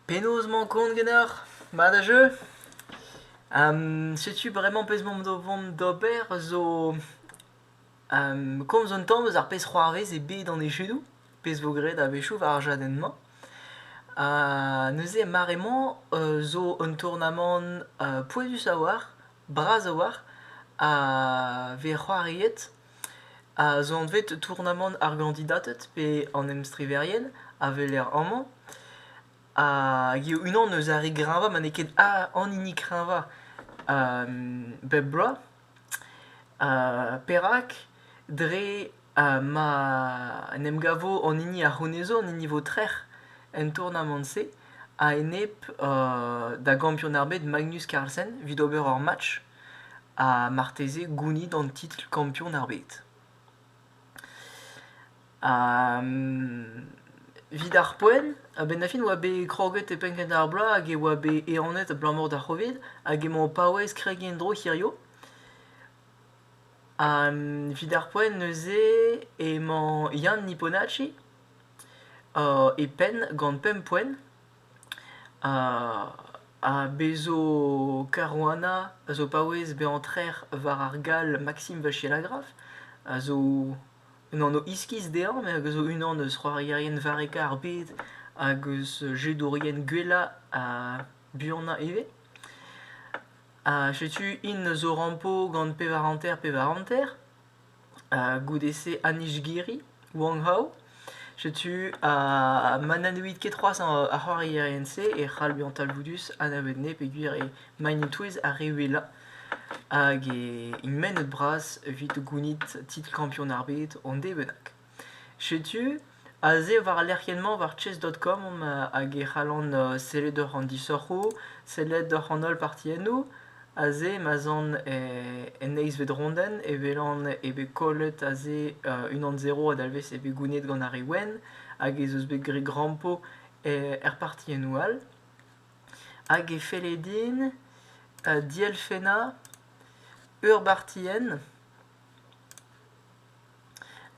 Penaos emañ kont ganeoc'h mat ha jeu? setu bremañ pezh m'am do vont d'ober zo komz un tamm eus ar pezh c'hoarvez eo bet an echudoù, pezh vo graet a-wechoù war ar chadenn-mañ. neuze mare-mañ zo un tournamant pouezhus a-walc'h, bras a-walc'h, a vez c'hoariet a zo anvet tournamant ar gandidated pe an emstriverien a weler amañ. Hag eo unan eus ar re greñvañ ma n'eo ket an hini kreñvañ bep bloaz. Perak? Dre ma en em gavo an hini a c'honezo, an hini vo trec'h en tournamant-se a-enep da gampionn ar bed Magnus Carlsen evit ober ur match. ha marteze gounit an titl kampion ar bed. Evit ar poent, a-benn da fin e oa bet kroget e penn kentañ ar bloaz hag e oa bet ehanet abalamour d'ar Covid hag emañ o paouez kregiñ en-dro hiziv. Evit ar poent neuze emañ Yann Niponacci e penn gant pemp poent. Ha bez 'zo Caruana a zo paouez bezañ trec'h war ar gall Maxime Vachier-Lagraffe a zo un anv iskis dezhañ met hag a zo unan eus c'hoarierien varrekañ ar bed hag eus jedourien gwellañ ha buanañ ivez. Ha setu int zo rampo gant pevar hanter-pevar hanter. goude-se Anishgiri, Wong Hao. Setu, ha ma na neuit ket c'hoazh ar c'hoarierien-se e c'hall bezañ talvoudus anavet nez peogwir eo maen-e-touez ar re wellañ hag e int mennet bras evit gounit titl kampionn ar bed hon dez bennak. Setu aze war al lec'hienn-mañ war chess.com omp hag e c'hallan sellet oc'h an disoc'hoù, sellet oc'h an holl partiennoù. Aze ma'z an en eizhvet rondenn e welan eo bet kollet aze unan zero a dalvez eo bet gounid gant ar re wenn hag ez eus bet graet grampo er partiennoù all. Hag e felle din dielfennañ ur bartienn.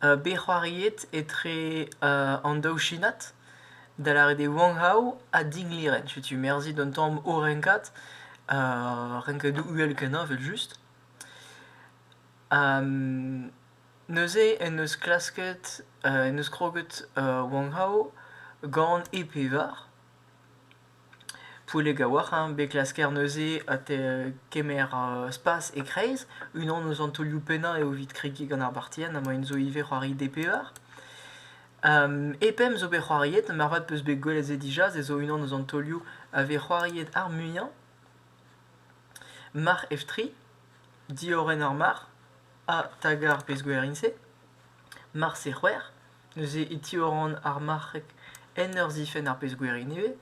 bet c'hoariet etre an daou shinad, da lâret eo Wang Hao ha Ding Li Ren. Setu merzhit an tamm o renkad, renkadoù uhel-kenañ evel-just. neuze en deus klasket, en deus kroget Wang Hao gant e pevar. Pouellek a-walc'h hein, bet klasker neuze ha te kemer spas e-kreiz. Unan eus an taolioù pennañ eo evit kregiñ gant ar bartienn ha moaien zo ivez c'hoari DPER. E pemp zo bet c'hoariet, moarvat 'peus bet gwelet se dija, se zo unan eus an taolioù a vez c'hoariet ar muiañ. Marc'h Eftri, Diorren ar marc'h ha Taga ar pezh-gwer int-se. Marse c'hwec'h. neuze e tiorren ar marc'heg en ur zifenn ar pezh-gwir ivez.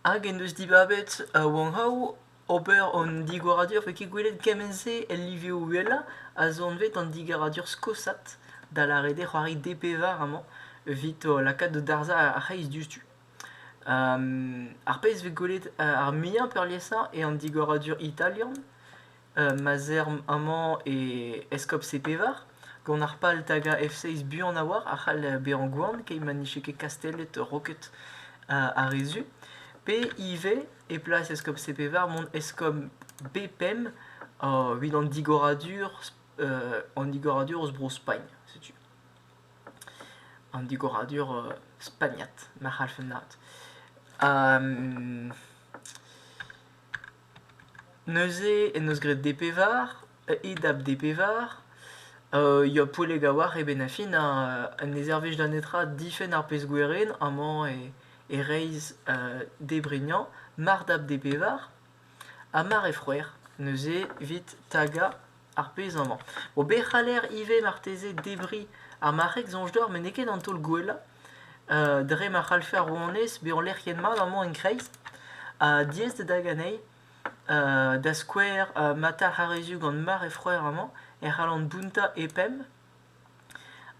Hag en deus dibabet Wanghaou ober an digoradur vez ket gwelet kement-se el livioù uhelañ a zo anvet an digaradur skosat, da lâret eo c'hoari DP var amañ evit lakaat da darzhañ ar c'hreiz diouzhtu. ar pezh vez gwelet ar muiañ peurliesañ eo an digoradur italian ma'z eomp amañ e Eskob-se Pevar, gant ar pal tagañ F6 buan a-walc'h a c'hall bezañ gwan keit ma n'eo ket kastellet roket ar re zu, pe ivez e plas Eskob-se Pevar mont eskob B5 evit an digoradur an digoradur eus Bro-Spagn, setu. An digoradur spagnat, ma c'hallfen laât. Neuze en deus graet D pevar, E dap D pevar, ya Poulleg a-walc'h eo 'benn ar fin ha ne servij da netra difenn ar pezh gwerin amañ e reizh D brignañ mar dap D pevar ha mar eo c'hwec'h neuze evit tagañ ar pezh amañ. Bon, be c'haller ivez marteze debriñ ar marc'heg soñj deoc'h met n'eo ket an taol gwellañ. dre ma c'hallfe ar rouanez bezañ lec'hiet-mat amañ en-kreiz. Ha diaes eo dezhañ anezhi. da skouer ma talc'h ar re zu gant mare he freur amañ e c'hallan bountañ he penn.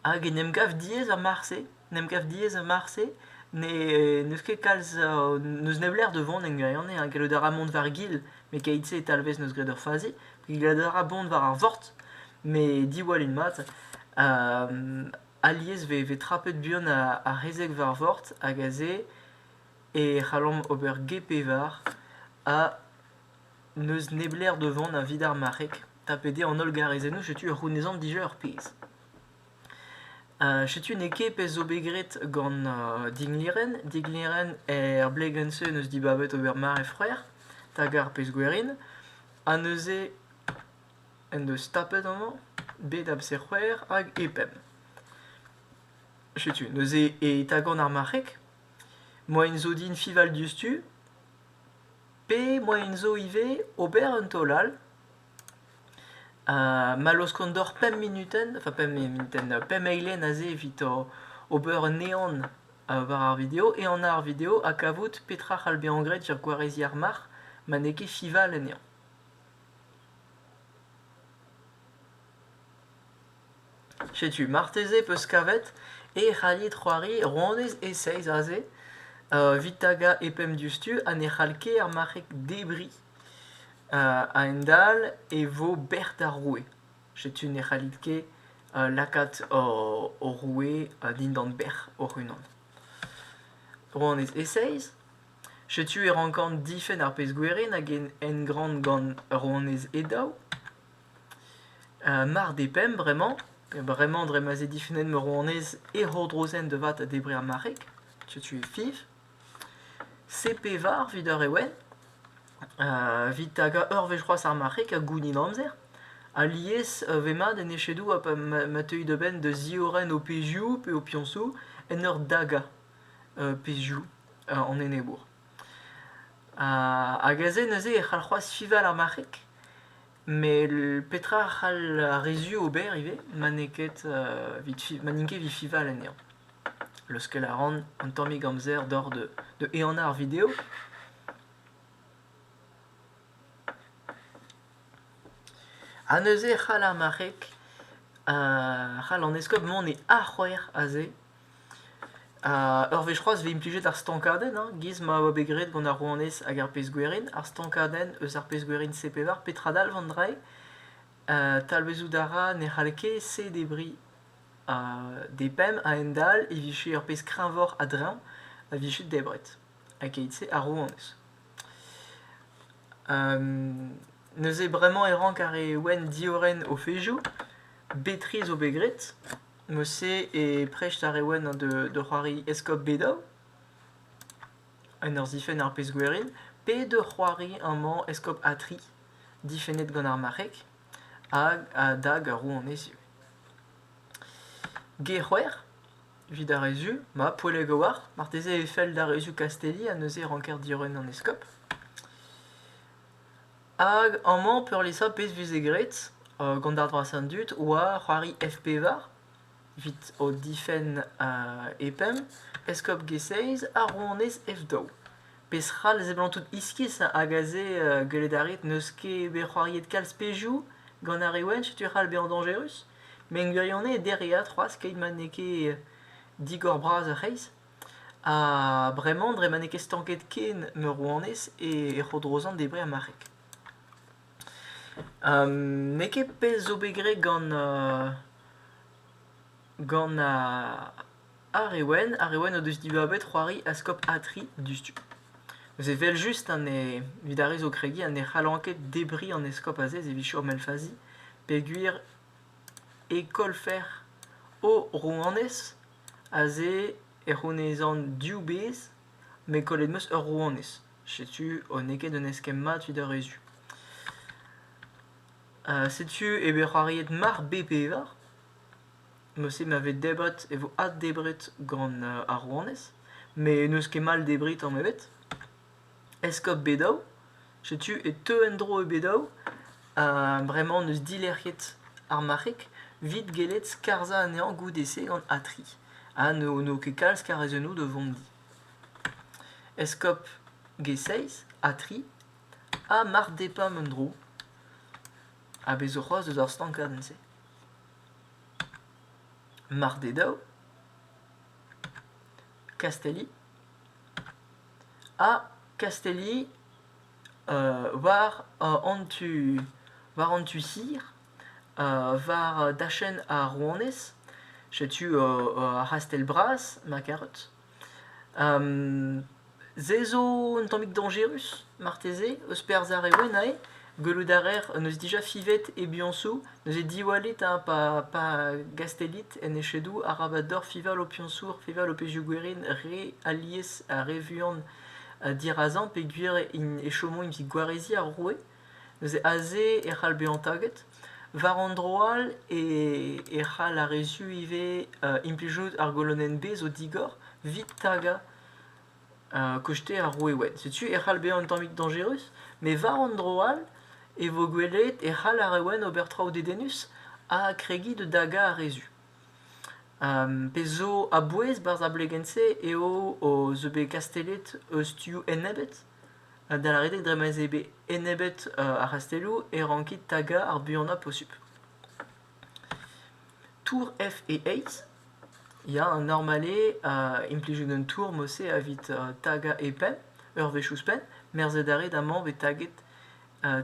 Hag en em gav diaes a-marse, en em gav diaes a-marse. Ne n'eus ket kalz n'eus nep lec'h da vont en gwirionez. Hein. Gellout a ra mont war gil, met keit-se e talvez neus graet ur fazi. Gellout a ra mont war ar vord, met diwall int mat. Alies 'vez trapet buan ar rezeg war vord hag aze e c'hallomp ober ge-pevar ha n'eus neblec'h da vont evit ar marc'heg. Tapet eo an holl garezennoù, setu ur c'hounezan dija ur pezh. setu n'eo ket pezh zo bet graet gant dignilhenn. Dignilhenn er blegenn-se neus dibabet ober mare frer, hag ar pezh gwerin. Ha neuze en deus tapet amañ bed amzer-c'hwec'h hag e pemp. Setu, neuze e tagan ar marc'heg. Moain zo din fival diouzhtu. Pe moain zo ivez ober un taol all. Ha ma laoskont deoc'h pemp munutenn, enfin pemp munutenn, pemp eilen aze evit ober un ehan war ar video, ehanañ ar video ha kavout petra c'hall bezañ graet er gwareziñ ar marc'h ma n'eo ket fival anezhañ. Setu marteze 'peus kavet e c'hallit c'hoari ronez e-seizh aze evit tagañ e-pemp diouzhtu ha ne c'hall ket ar marc'heg debriñ. A-hend-all e vo bec'h d'ar roue. Setu ne c'hallit ket lakaat ho roue dindan bec'h hoc'h-unan. Ronez e-seizh. Setu e rankan difenn ar pezh-gwerin hag en engran gant ur ronez e-daou. mar depemp bremañ, bremañ dre ma 'z eo difennet ma ronez e c'hourdrozen da vat ha debrer ar marc'heg. Setu e fiñv. CP var evit ur ewen. Evit tagañ ur wech c'hoazh ar marc'heg ha gounit amzer. Alies e vez mat en echedoù ha pa ma teuit a-benn da ziorren ho pezhioù pe ho piñsoù en ur dagañ. pezhioù an enebour. hag aze neuze e c'hall c'hoazh fiñval ar marc'heg. Met petra a c'hall ar re zu ober ivez ma n'eo ket ma n'int ket evit fiñval anezhañ. Leuskel a ran un tammig amzer doc'h da ehanañ ar video. Ha neuze e c'hall ar marc'heg, c'hall an eskob mont e arc'hwec'h aze. ur wech c'hoazh 'vez implijet ar stankadenn hein, 'giz ma oa bet graet gant ar rouanez hag ar pezh-gwerin, ar stankadenn eus ar pezh-gwerin C-pevar, petra dalv an drailh? talvezout a ra ne c'hall ket C-debriñ D-pemp a-hend-all e vije ur pezh kreñvoc'h a-dreñv a vije debret keit-se ar rouanez. neuze bremañ e rank ar re wenn diorren o fezhioù, bet-tre zo bet graet. Mosse e prest ar Ewen da c'hoari eskob Bedaou, en ur zifenn ar pezh gwerin, pe da c'hoari amañ eskob Atri, difennet gant ar marc'heg, hag a-dag ar rouanez ivez. Ge-c'hwec'h, evit ar rezum, ma poellek a-walc'h, marteze e fell d'ar rezum Kastelli ha neuze ranker diorren an eskob. Hag amañ peurliesañ pezh 'veze graet gant ar droaz an dud 'oa c'hoari F-pevar evit o difenn e pemp, eskob G-Seiz ha rouanez F-daou. Pezh-c'hall a seblantout iskis hag aze gwelet a rit n'eus ket bet c'hoariet kalz pezhioù gant ar re wenn setu e c'hall bezañ dañjerus. Met en gwirionez dereat c'hoazh keit ma n'eo ket digor-bras ur c'hreiz. Ha bremañ, dre ma n'eo ket stanket ken ma rouanez, e c'hodrozan debriñ ar marc'heg. n'eo ket pell zo bet graet gant gant ar re wen. Ar re wen o deus dibabet c'hoari a skop Atri diouzhtu. Neuze evel-just evit ar re zo kregiñ ne c'hallan ket debriñ an eskob aze evit chom el fazi peogwir e kollfer o rouanez Aze e c'hounezan div bezh met kollet 'm eus ur rouanez. Setu ho n'eo ket un eskemm mat evit ar re zu. setu eo bet c'hoariet Mar B-Pevar. Mod-se ma vez debret e vo addebret gant ar rouanez met n'eus ket mall debriñ tamm ebet. Eskob Bedow. Setu e teu en-dro e Bedow. Ha bremañ n'eus dilec'hiet ar marc'heg evit gellet skarzhañ anezhañ goude-se gant Atri. Ha n'eo ket kalz karrezennoù da vont di. Eskob G6, Atri, ha marc'h Depam en-dro. A bez zo c'hoazh deus ar stankadenn-se. Marc'h Dedow, Kastelli, ha Kastelli war an tu war an tu sur war dachenn ar rouanez. Setu ar c'hastell-bras ma karet. se zo un tammig dañjerus marteze eus perzh ar re wennañ eo. Gwelout a raer en deus dija fivet e biañsoù, neuze diwallit hein, pa, pa gastellit en echedoù arabat deoc'h fival ho piañsoù, fival ho pezhioù gwerin re alies ha re vuan ha dirazañ peogwir int- e chomo evit gwareziñ ar roue. Neuze aze e c'hall bezañ taget. War an dro all e e c'hall ar re zu ivez implijout ar golonenn bez o digor evit tagañ kosteñ ar roueed. Setu e c'hall bezañ un tammig dañjerus, met war an dro all e vo gwelet e c'hall ar reolenn ober traoù dedennus ha kregiñ da dagañ ar re zu. pezh zo a-bouez barzh ar blegenn-se eo o zo bet kastellet eus tu enebet, da lâret eo dre ma'z eo bet enebet ar c'hastelloù e rankit tagañ ar buanañ posupl. Tour F-E-Eizh ya, an Normale a implijet un tour mod-se evit tagañ e penn ur wech ouzhpenn, merzhet a rit amañ bet taget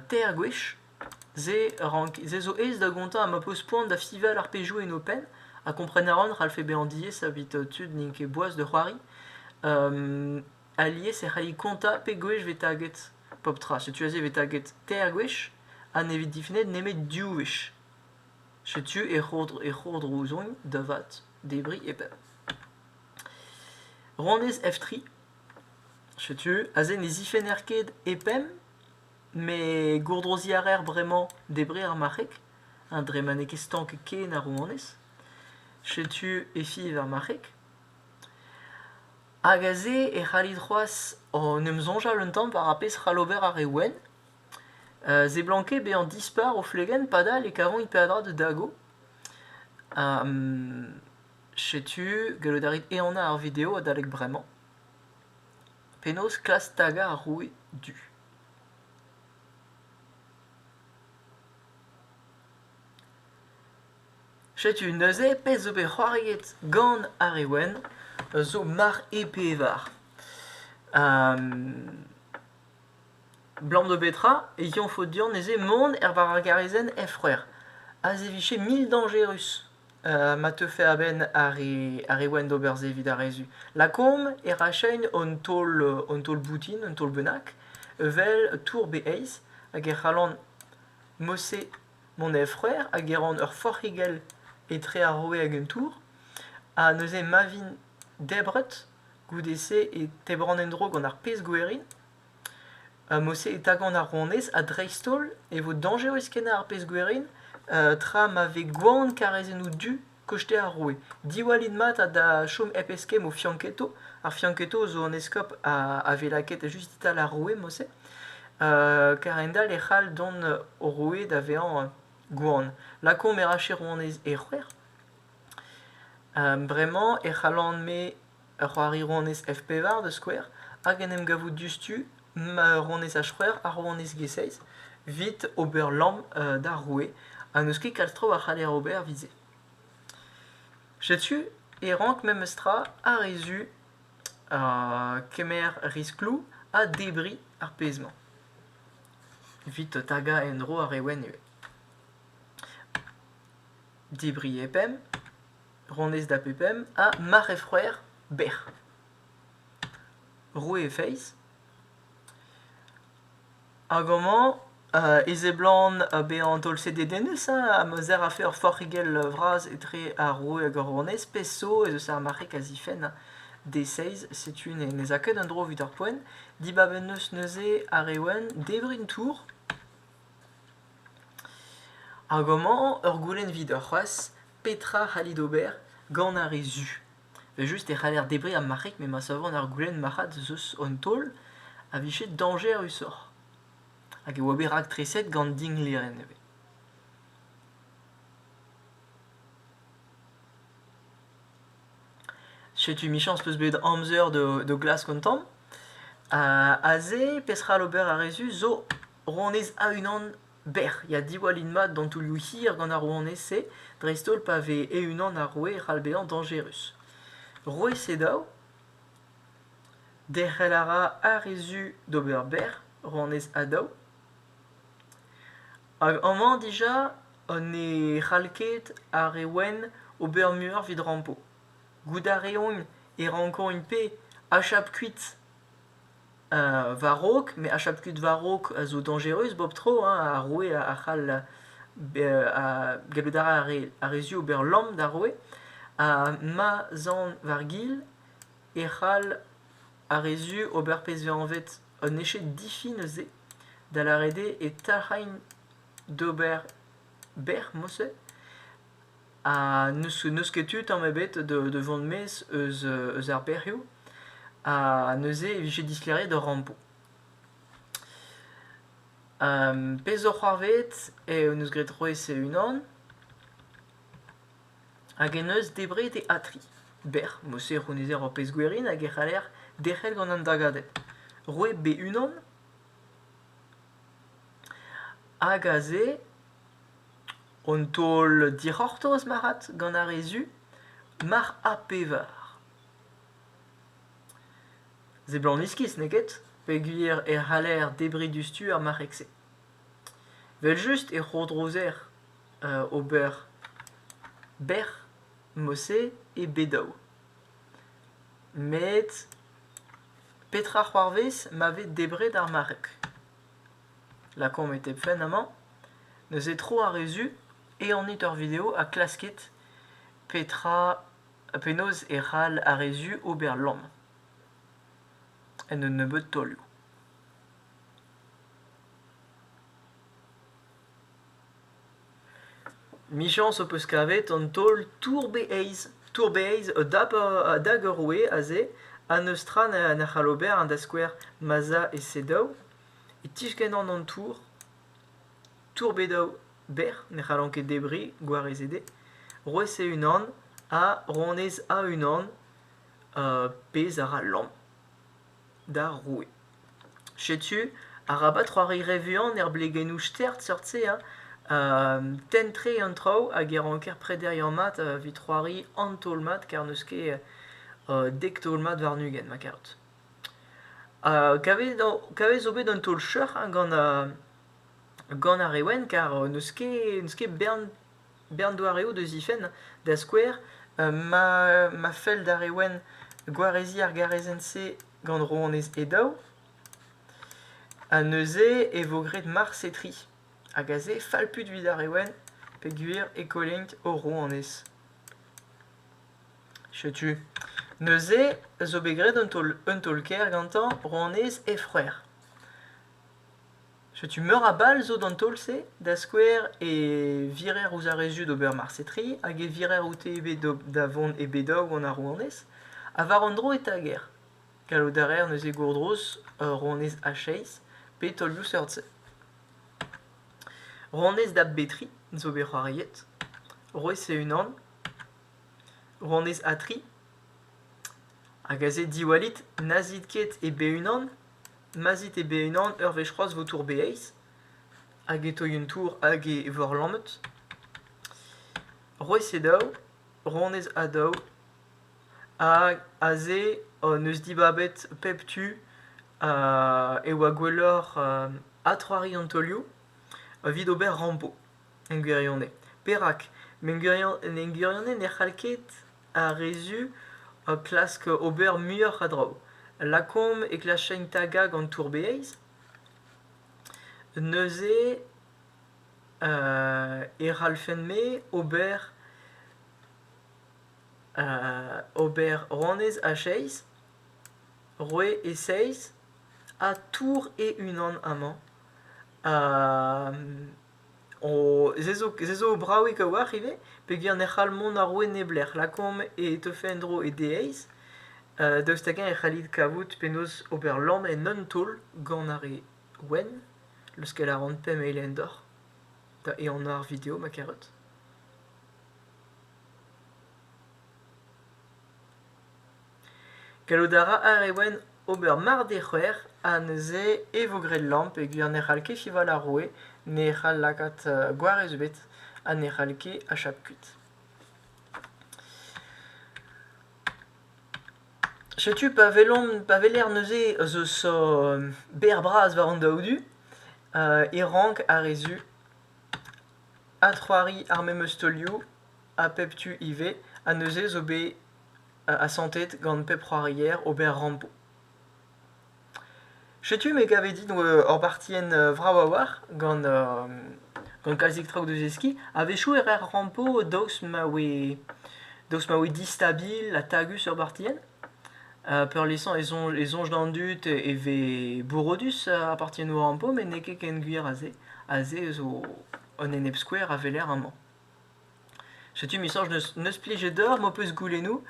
teir gwech. Se rank- se zo aes da gontañ ha ma peus poan da fival ar pezhioù en ho penn ha kompren a ran e c'hallfe bezañ diaes evit tud n'int ket boas da c'hoari. Alies e c'halli kontañ pe gwech vez taget pep tra. Setu aze e vez taget teir gwech ha ne vez difennet nemet div wech. Setu e c'hourdro- e c'hourdrouzogn da vat, debriñ e pep. Ronez F3. Setu aze ne zifenner ket e pemp, met gourdroziñ a raer bremañ debriñ ar marc'heg, ha dre ma n'eo ket stank ken ar rouanez. Setu efi eus ar marc'heg. Hag aze e c'hallit c'hoazh en em soñjal un tamm war ar pezh c'hall ober ar re wenn. Euh, seblanket bezañ dispar o flegenn padal e kavan peadra da dago. setu, gallout a rit ehanañ ar video adalek bremañ. Penaos klask tagañ ar roue du? Setu neuze pezh zo bet c'hoariet gant ar re wenn, zo marc'h e pevar. Blam-do betra e yoñfo deomp neuze mont er war ar garrezenn Efroer aze e vije mil dañjerus ma teufe a-benn ar re ar re wenn d'ober se evit arrezu. Lakaomp e rachein hon taol hon taol boutin, un taol bennak, evel tour be eizh hag e c'hallan mod-se Mon êf-c'hwec'h hag e ran ur forc'higell etre ar roue hag un tour, ha neuze ma vin debret, goude-se e tebran en-dro gant ar pezh-gwerin, ha mod-se e tagan ar ronez ha dreist-holl e vo dañjerus kenañ ar pezh-gwerin tra ma vez gwan karezennoù du koste ar roue. Diwallit mat ha da chom hep eskemm o fianchetto. Ar fianchetto zo an eskob a, a vez lakaet just e-tal ar roue, Mose. Uh, kar-hend-all e c'hall dont o roue da vezañ gwan. Lakaomp e rache rouanez e c'hwec'h. Uh, bremañ e c'hallan-me ur c'hoari rouanez F-pevar da skouer, hag en em gavout diouzhtu ma rouanez H-c'hwec'h ha rouanez G-seiz 'vit ober lamm d'ar roue ha n'eus ket kalz traoù a c'haller ober 'vit se. Setu e rank memes tra ar re zu kemer riskloù ha debriñ ar pezh-mañ. 'Vit tagañ en-dro ar re wenn ivez. Debriñ e pemp, Ronez da pepemp ha mare froer bec'h. Roue e feiz. Hag amañ euh, e seblant euh, bezañ taol-sed e denez hein, amzer a fe ur forc'higell vras etre ar roue hag ar ronez. Pezh zo ez eus ar mare kazifenn hein, D-seiz. Setu ne ne za ket en-dro evit ar poent. Dibab en deus neuze ar Ewen debriñ tour. Hag amañ ur goulenn 'vid c'hoazh. Petra 'c'hallit ober gant ar re zu? Evel-just e c'haller debriñ ar marc'heg met ma savan ar goulenn marc'had eus an taol a vije dañjerusoc'h. Hag e oa bet raktreset gant dinglerenn nevez. Setu Michañs 'peus bet amzer da glask an tamm. Aze, peseurt ober ar re zu zo honnezh a-unan Bec'h ya diwallin mat d'an taolioù hir gant ar rouanez-se, dreist-holl pa vez e-unan ar roue e c'hall bezañ dañjerus. Roue Sedav. Derc'hel a ra ar re zu d'ober bec'h, rouanez Adav. Hag amañ dija ne c'hall ket ar re wenn ober muioc'h evit rampo. Goût a reont e rankont int-pe achap kuit war-raok, met ar chapeled war-raok a zo dañjerus bep tro, hein, ar roue a c'hall gallout a ra ar re zu ober lamm d'ar roue. Ha ma'z an war-gil e c'hall ar re zu ober pezh vez anvet un eche difi neuze, da lâret eo e talc'haint d'ober bec'h, mouse. Ha n'eus ket tu tamm ebet da vont maez eus ar bec'hioù. Ha neuze e vije dislêriet ur rampo. pezh zo c'hoarvezet en deus graet Roez e-unan hag en deus debret e atri bec'h. Mod-se e c'hounezer ur pezh gwerin hag e c'haller derc'hel gant an dagadenn. Roet be unan Hag aze, un taol dic'hortoz marc'had gant ar re zu, marc'h ha pevar. Seblant iskis, n'eo ket ? Peogwir e c'haller debriñ diouzhtu ar marc'heg-se. Evel-just e c'hourdrouzer ober bec'h mod-se e bed-daou. Met Petra c'hoarvez ma vez debret ar mareg? Lakaomp e tep fenn amañ. Neuze tro ar re zu, ehanit ur video ha klaskit petra penaos e c'hall ar re zu ober lamm en un nebeud taolioù. Michañs ho peus kavet an taol tour-be-aez. Tour-be-aez a dap a dag ur roue aze ha n'eus tra na c'hall ober da skouer ma'z a e-se daou. E tiskennan an tour. Tour-be daou berr ne c'hallan ket debriñ gwarez eo dezhe. Roez-se unan ha ronez a unan pezh a ra lamm. d'ar roue. Setu, arabat c'hoari re vuan er blegennoù stert seurt-se, hein. tenn-tre an traoù hag e ranker prederiañ mat evit c'hoari an taol-mat kar n'eus ket dek taol-mat warn-ugent ma karout. kavez o- kavez zo bet un taol cheuc'h hein gant gant ar re wenn kar n'eus ket n'eus ket bern bern doareoù deus he fenn, da skouer ma fell d'ar re wenn gwareziñ ar garezenn-se gant rouanez he daou. Ha neuze e vo graet Mars e tri, hag aze falput evit ar re wenn peogwir e kollennk o rouanez. Setu. Neuze zo bet graet un taol-kaer gantañ rouanez he c'hwec'h. Setu meur a bal zo d'an taol-se, da skouer e virer ouzh ar re zud ober marse-tri hag e virer oute eo bet da vont e Bedaou gant ar rouanez. Ha war un dro e tager. Gallout a reer neuze gourdrouz ur rouanez a-seizh pe taolioù seurt-se. Rouanez da Betri zo bet c'hoariet. Rouez e-unan. Rouanez Atri. Hag aze diwallit, n'azit ket e be unan ma 'z it eo bet unan ur wech c'hoazh 'vo tour Beiiz hag e toy un tour hag e vor lammet. Roez eo daou, ronez ha daou hag aze hon eus dibabet pep tu e oa gwelloc'h adc'hoari an taolioù evit ober rampo. en gwirionez. Perak? En gwirionez ne c'hall ket ar re zu klask ober muioc'h a draoù. Lakaomp e klaskent tagañ gant tour-bouez. Neuze e c'hallfent-me ober ober honnezh a seizh, roue e seizh, ha tour e-unan amañ. Se zo bravik a-walc'h ivez peogwir ne c'hall mont àr-ro e neblec'h. Lakaomp e teufe en-dro e deiz daoust hag-eñ e c'hallit kavout penaos ober lamm en un taol gant ar re wenn leuskel a ran pemp eilenn deoc'h da ehanañ ar video ma kerot. Gallout a ra ar re wenn ober mard eo c'hwec'h ha neuze e vo graet lamm peogwir ne c'hall ket fival ar roue, ne c'hall lakaat gwarez ebet ha ne c'hall ket achap kuit. Setu pa welomp, pa weler neuze eus uh, ber bras war an daou du uh, e rank ar re zu adc'hoari ar memes taolioù ha pep tu ivez ha neuze zo bet asantet gant pep c'hoarier ober rampo. Setu me gavet din ur bartienn vrav a-walc'h gant gant kalzik traoù da zeskiñ. A-wechoù e raer rampo daoust ma voe daoust ma voe distabil ha tagus ur bartienn. Peurliesañ e soñj e soñj d'an dud e vez bourrodus ar bartiennoù rampo met n'eo ket ken gwir a-se. A-se zo un enep skouer a weler amañ. Setu, misañs, n'eus plijet deoc'h m'ho peus goulennoù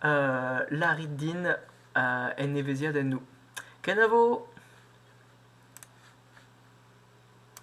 euh, lârit din euh, en evezhiadennoù. Kenavo!